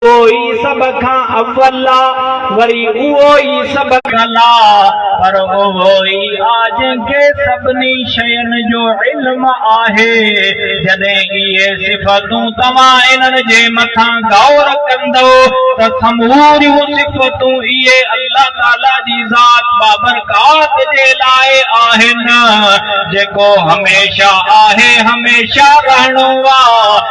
اهو ئي سڀ کان اول آ، وري اهو ئي سڀ کان لا، پر اهو ئي آ جنهن کي سڀني شين جو علم آهي. جڏهن اهي صفتون توهان انهن جي مٿان غور ڪندؤ ته سموريون صفتون اهي الله تعاليٰ جي ذات بابرڪات جي لاء آهن، جيڪو هميشه آهي، هميشه رهڻو آ.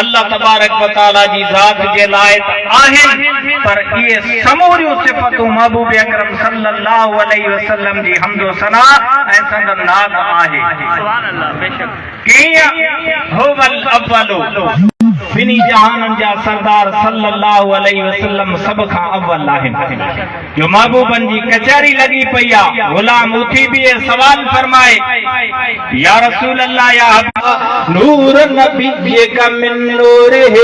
الله تبارڪ و تعالي جي ذات جي لائق آهن پر اهي سموريون صفتون محبوب اڪرم صلي الله عليه وسلم جي حمد و ثنا ۽ سندن ناز آهي. ڪيئن؟ هو الاول. ٻنهي جهانن جا سردار صلي الله عليه وسلم سڀ کان اول آهن. جو محبوبن جي ڪچهري لڳي پئي آ، غلام اٿي بيهي سوال فرمائي، يا رسول الله يا حبيب الله! نور نبيك من نوره،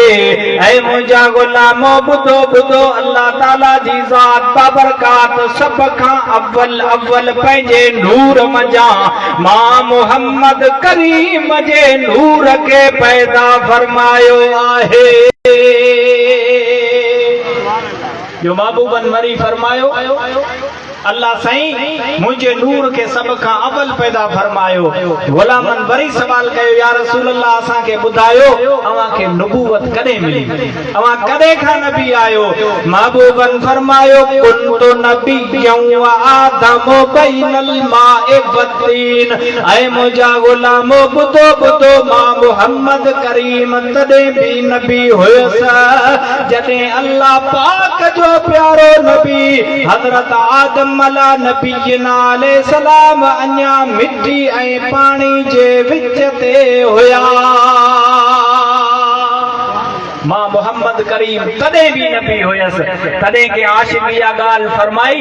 اي منهنجا غلامو ٻڌو ٻڌو الله تعاليٰ جي ذات بابرڪات سڀ کان اول اول پنهنجي نور منجهان مان محمد ڪريم جي نور کي پيدا فرمايو آهي. جو محبوبن مري فرمايو، الله سائين منهنجي نور کي سڀ کان اول پيدا فرمايو. غلامن وري سوال ڪيو، يا رسول الله اسان کي ٻڌايو اوهان کي نبوت ڪڏهن ملي؟ اوهان ڪڏهن کان نبي آهيو؟ محبوبن فرمايو، ڪنت نبيا وآدم بين الماء والطين، اي منهنجا غلامو ٻڌو ٻڌو مان محمد ڪريم تڏهن به نبي هيس جڏهن الله پاڪ جو پيارو نبي حضرت آدم علا نبينا عليه السلام اڃا مٽي ۽ پاڻي جي وچ تي هيا مان محمد ڪريم تڏهن به نبي هيس تڏهن ڪنهن عاشق اها ڳالهه فرمائي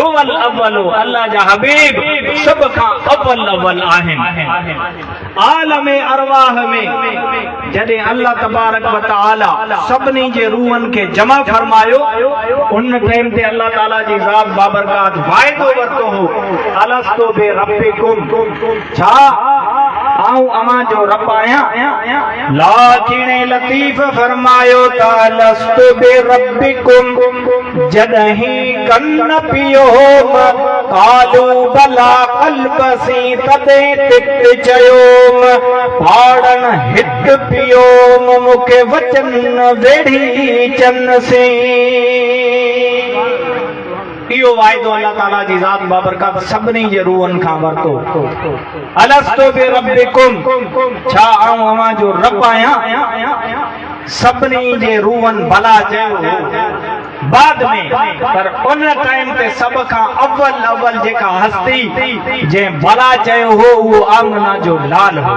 هو الاول الله جا حبيب سڀ کان اول اول آهن عالم ارواح ۾ جڏهن الله تبارڪ وتعالي سڀني جي روحن کي جمع فرمايو ان ٽائيم تي الله تعالي جي ذات بابرڪات واعدو ورتو هو الستو بربڪم ڇا آئون اوهان جو رب آهيان؟ لاکين لطيف فرمايو ته الست بربڪم جڏهين ڪن پيو هو م قالو بلا قلب سين تڏهين تت چيو م پاڙن هت پيو م مون کي وچن ويڙهي چن سين. اهو وعدو الله تعاليٰ جي ذات بابرڪت سڀني جي روحن کان ورتو. الستو بربڪم، ڇا آئون اوهان جو رب آهيان؟ سڀني جي روحن بلا چيو هو. بعد ۾ پر ان ٽائيم تي سڀ کان اول اول جيڪا هستي جنهن بلا چيو هو اهو آمنه جو لال هو.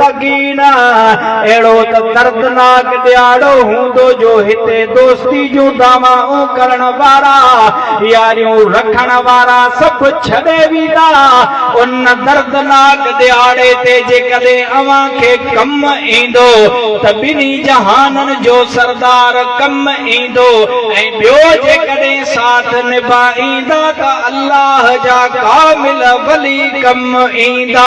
سگينا، اهڙو ته دردناڪ ڏيهاڙو هوندو جو هتي دوستي جون دعوائون ڪرڻ وارا، ياريون رکڻ وارا سڀ ڇڏي ويندا. ان دردناڪ ڏيهاڙي تي جيڪڏهن اوهان کي ڪم ايندو ته ٻنهي جهانن جو سردار ڪم ايندو ۽ ٻيو جيڪڏهن ساٿ نڀائيندا ته الله جا ڪامل ولي ڪم ايندا.